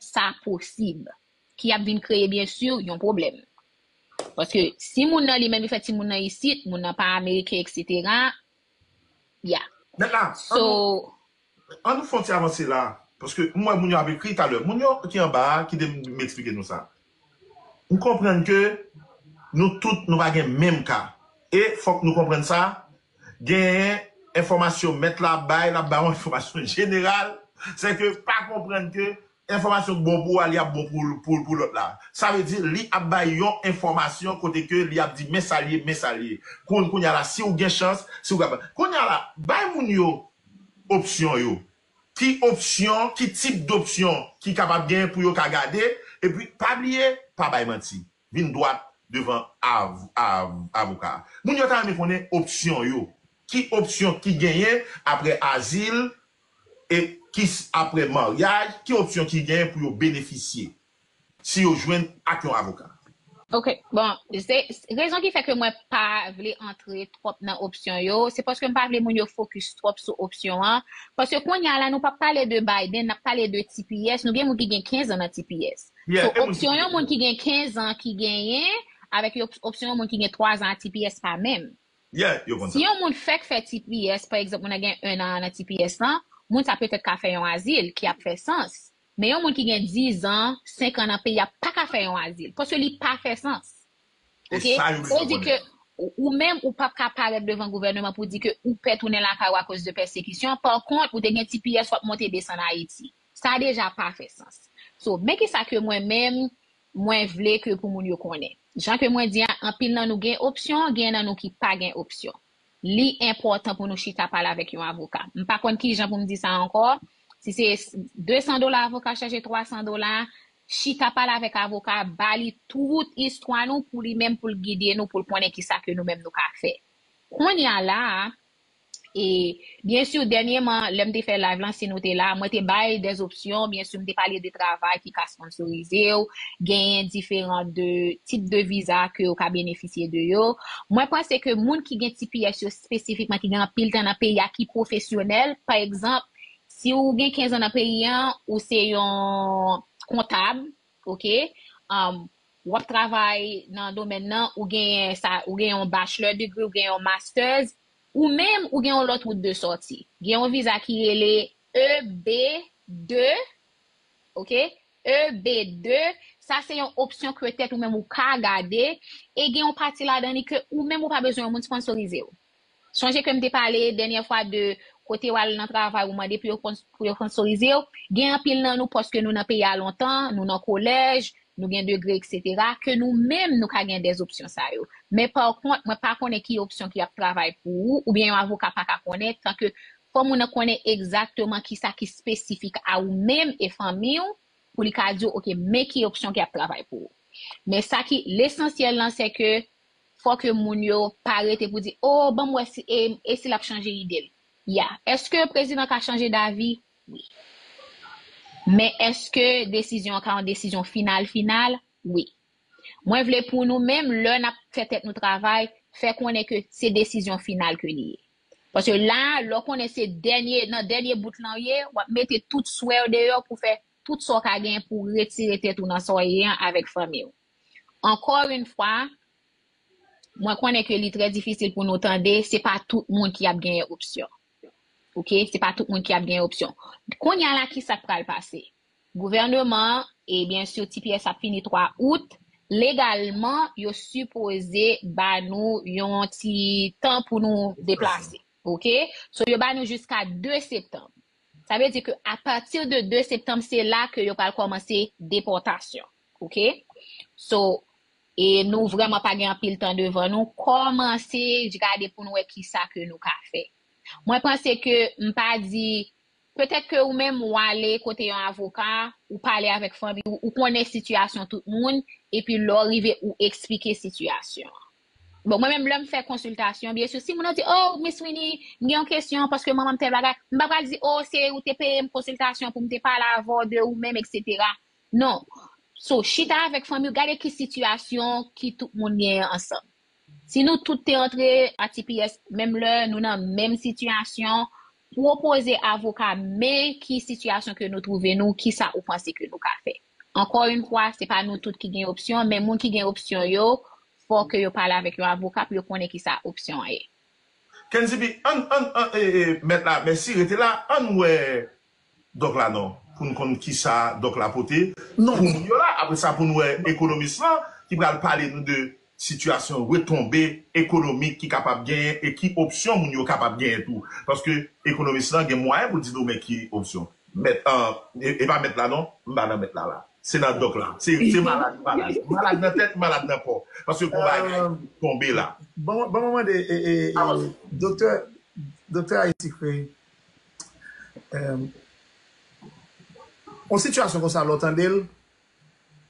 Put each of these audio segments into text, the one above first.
sa posib, ki ap vin kreye byen si yon pwoblèm. Paske si moun nan li menm li fè timoun nan isit, moun nan pa ameriken eksetera, ya. Mèt la, an nou fè yon ti avanse la, paske m wè moun yo ap ekri talè. Moun yo ki anba a, kite m eksplike nou sa. Ou konprann ke nou tout nou pa gen menm ka. E fòk nou konprann sa, genyen enfòmasyon mèt la ap bay, l ap bay yon enfòmasyon jeneral, se ke pa konprann ke enfòmasyon k bon pou ou a li ap bon pou lòt la. Sa vle di li ap bay yon enfòmasyon kote ke li ap di men sa l ye, men sa l ye. Kounye a la si ou gen chans, si ou kapab. Kounye a la, bay moun yo opsyon yo. ki opsyon, ki tip dopsyon ki kapab gen pou yo ka gade, epi pa bliye, pa bay manti. Vin dwat devan avoka a. Moun yo ta renmen konnen opsyon yo. Ki opsyon ki genyen apre azil, e kis apre maryaj, ki opsyon ki genyen pou yo benefisye. si yo jwenn ak yon avoka. Ok bon se rezon ki fè ke mwen pa vle antre twòp nan opsyon yo se paske m pa vle moun yo fokis twòp sou opsyon an paske kounya la nou pap pale de Biden nap pale de tps nou gen moun ki gen 15 an nan tps so opsyon yon moun ki gen 15 an ki genyen avèk yon opsyon yon moun ki gen 3 zan a tps pa menm si yon moun fèk fè tps pa egzanp moun nan gen 1 an nan tps lan moun sa petèt ka fè yon azil ki ap fè sans. Men yon moun ki gen 10 an, 5 an nan peyi a paka fè yon azil. Paske li pa fè sans. E Ok? sa yo Sa bezwen vle di konnen. ke ou ou menm ou pap ka parèt devan gouvèneman pou di ke ou pè tounen lakay ou akoz de pèsekisyon. Par kont, ou te gen tps wap monte desann Ayiti. Sa deja pa fè sans. So, men kisa ke mwen menm mwen vle ke pou moun yo konnen. Jan ke mwen di a, anpil nan nou gen opsyon, genyen nan nou ki pa gen opsyon. li enpòtan pou nou chita pale avèk yon avoka. M pa konn ki jan pou m di sa ankò, si se 200 dola avoka chaje 300 dola, chita pale avèk avoka a, ba li tout istwa nou pou li menm pou l gide nou pou l konnen ki sa ke nou menm nou ka fè. Kounye a la a, e. Byen sur dènyeman lèm te fè live lan si nou te la mwen te bay des options byen sur m te pale de travay ki ka sponsorizew genyen diferan de tip de viza ke ou ka benefisye de yo mwen panse ke moun ki gen tps yo spesifikman ki gen anpil tan nan peyi a ki pwofesyonèl pa egzanp si ou gen 15 an nan peyi an ou se yon kontab ok wap travay nan domèn nan ou genyen sa ou genyen yon bachelor degree ou genyen yon masters Ou menm, ou gen yon lòt wout de sòti. Gen yon viza ki rele EB-2, ok, EB-2, sa se yon opsyon ke tèt ou menm ou ka gade, e gen yon pati ladan li ke ou menm ou pa bezwen yon moun sponsorize ou. Sonje ke m te pale dènyè fwa de kote w al nan travay ou mande pou yo sponsorize ou, gen anpil nan nou paske nou nan peyi a lontan, nou nan kolèj, nou gen degre eksetera, ke nou menm nou ka gen dè opsyon sa yo. Men pa kont mwen pa konnen ki opsyon ki ap travay pou ou, ou byen yon avoka pa ka konnen, tan ke fò moun nan konnen egzakteman ki sa ki spesifik a ou menm e fanmi ou, pou li ka di ou ok men ki opsyon ki ap travay pou ou. Men sa ki lesansyèl lan se ke fò ke moun yo pa rete pou di oh banm wè si e si lap chanje ide l. Yeah. Eske prezidan ka chanje davi? Wi. Men eske desizyon an ka yon desizyon final final? Wi. Mwen vle pou nou menm lè nap fè tèt nou travay, fè konnen ke se desizyon final ke li ye. Paske la, lè w konnen se dènye, nan dènye bout lan w ye, wap mete tout swè w deyò pou fè tout sa w ka genyen pou w retire tèt ou nan sa w ye an avèk fanmi w. Ankò yn fwa, mwen konnen ke li trè difisil pou nou tande, se pa tout moun ki ap genyen opsyon. Ok se pa tout moun ki ap gen opsyon kounya la ki sak pral pase gouvèneman e byen sur tps ap fini 3 out legalman yo sipoze ba nou yon ti tan pou nou deplase ok so yo ba nou jiska 2 septanm sa vle di ke a pati de 2 septanm se la ke yo pral kòmanse depòtasyon ok so E nou vrèman pa gen anpil tan devan nou, kòmanse jgade pou nou wè ki sa ke nou ka fè. Mwen panse ke m pa di, petèt ke ou menm ou ale kote yon avoka, ou pale avèk fanmi ou, ou konnen sitiyasyon tout moun, epi lè w rive ou eksplike sitiyasyon an. Bon, mwen menm lè m fè konsiltasyon, byen si moun nan di, oh, Miss Winnie, m gen yon kesyon paske manman m tèl bagay, m pa pral di, oh, se ou te peye m konsiltasyon pou m te pale avè w de ou menm, eksetera. Non So chita avèk fanmiw gade ki sitiyasyon ki tout moun gen an ansanm Si nou tout te antre a tps menm lè nou nan menm sitiyasyon pwopoze avoka men ki sitiyasyon ke nou twouve nou kisa ou panse ke nou ka fè Ankò yn fwa se pa nou tout ki gen opsyon men moun ki gen opsyon yo fò ke yo pale avèk yon avoka pou yo konnen kisa opsyon an ye. Kenzibi, Ann ann ann e e mèt la mèsi rete la ann wè Doc la non poun konn kisa doc la pote pou moun yo la apre sa poun wè ekonomis lan ki pral pale nou de sitiyasyon retonbe ekonomik ki kapab genyen e ki opsyon moun yo kapab genyen tou paske ekonomis lan gen mwayen poul di nou men ki opsyon mèt e pa mèt la non m pa nan mèt la la se nan doc la se malad m malad m malad nan tèt m malad nan kò paske gon bagay ki tonbe la. Ban mwen mande doktè doktè ayiti kreye Yon sitiyasyon konsa lè w tande l,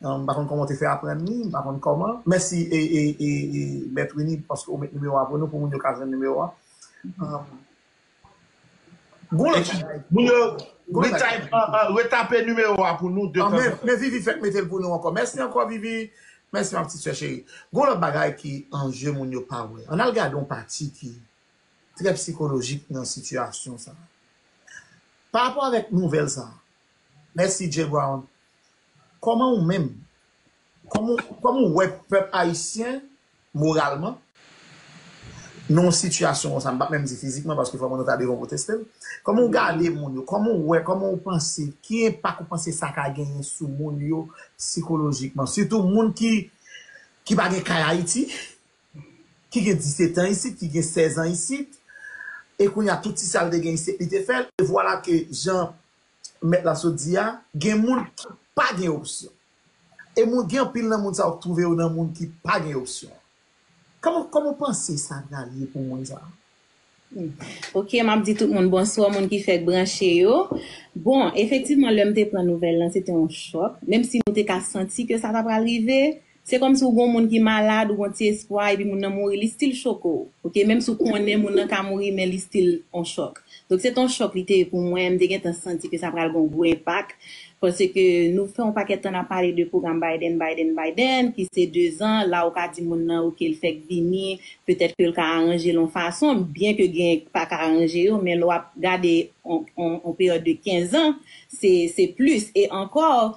m pa konn kòman w te fè aprann li, m pa konn kòman. Mèsi Mèt Wini paske ou met nimewo a pou nou pou moun yo ka jwenn nimewo a. Gon lòt bagay. Moun yo retape nimewo a pou nou detan detan. Men Vivi fèk mete l pou nou ankò. Mèsi ankò Vivi. Mèsi ma ptit sè cheri. Gon lòt bagay ki an je moun yo pa wè. Ann al gade yon pati ki. trè psikolojik nan sitiyasyon sa a. Pa rapò avèk nouvèl sa a, Mèsi Jay Brown, kòman ou menm, kòman ou wè pèp ayisyen moralman nan yon sitiyasyon konsa, m pa menm di fizikman paske fò moun yo ta devan pou teste l, kòman ou gade moun yo, kòman ou wè, kòman ou panse, ki enpak ou panse sa ka genyen sou moun yo psikolojikman, sitou moun ki pa gen kay Ayiti? ki gen disetan isit, ki gen sèzan isit, e kounye a tout ti sa l te gen isit li te fè l, e vwala ke jan mèt la sot di a, gen moun ki pa gen opsyon. E moun gen anpil nan moun sa yo k twouve yo nan moun ki pa gen opsyon. Kòman w panse sa pral ye pou moun sa yo? Ok map di tout moun bonswa moun ki fèk branche yo bon efektivman lèm te pran nouvèl lan se te yon chòk menm si nou te ka santi ke sa ta pral rive se kòm si ou gon moun ki malad ou gon ti espwa epi moun nan mouri li stil choke w ok menm si ou konnen moun nan ka mouri men li stil yon chòk donk se te yon chòk li te ye pou mwen m te gentan santi ke sa pral gon gwo enpak paske nou fè yon pakèt tan nap pale de pwogram Biden Biden Biden ki se 2 zan la ou ka di moun nan ok l fèk vini Petèt ke l ka aranje l on fason, byen ke genyen k pa ka aranje yo, men lè w ap gade on peryòd de 15 ans, se plis. E ankò.